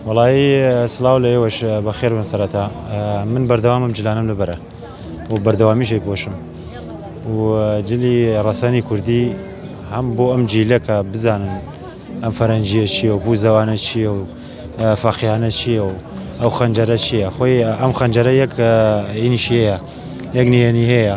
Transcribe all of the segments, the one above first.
وەڵایی سڵاو لە ئێوەش بەخێربن سەرەتا من بەردەوامم جلانم لەبەرە و بەردەوامیشەی پۆشم و جلی ڕەسەنی کوردی هەم بۆ ئەم جیلەکە بزانن ئەم فەرەنجیە چیە و بوو زەوانە چیە و فەقیانە چیە و ئەو خەنجەرە چیە خۆی ئەم خەنجەرە یەک ئینشیەیە یەک نهێنی هەیە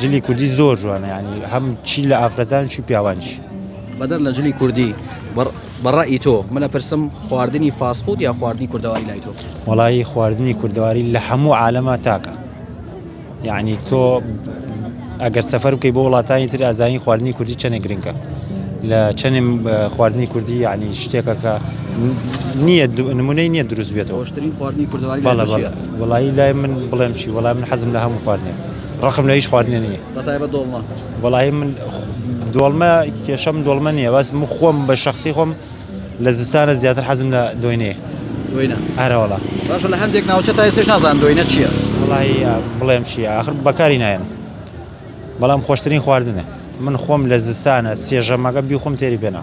جلی کوردی زۆر جوانە یعنی هەم چی لە ئافرەتان چی پیاوانش بەدەر لە جلی کوردی بەڕی تۆ منە پرسم خواردنی فاسفود یا خواردنی کوردەواری لای تۆ وڵی خواردنی کوردەواری لە هەموو عالەما تاکە یعنی تۆ ئەگەر سەفەر بکەی بۆ وڵاتانی تر ئازانی خواردنی کوردی چەنێ گرنگە لە چەنێ خواردنی کوردی یعنی شتێکە کە نییە نمونەی نییە دروست بێتەوەشترین خواردنی کوردەواری وڵی لای من بڵێم چی وەڵام من حەزم لە هەموو خواردنێک ڕقم لە هیچ خواردنێ نییە بەتایبەت دۆڵمە وەڵاهی من دۆڵمە کێشەم دۆڵمە نییە بەس من خۆم بە شخصی خۆم لە زستانە زیاتر حەزم لە دۆینێ دۆینە ئارەوەڵا باشە لە هەندێک ناوچە تا ئێسش نازان دۆینە چییە وڵی بڵێم چی آخر بەکاری نایەن بەڵام خۆشترین خواردنە من خۆم لە زستانە سێژەمەکە بیخۆم تێری پێنا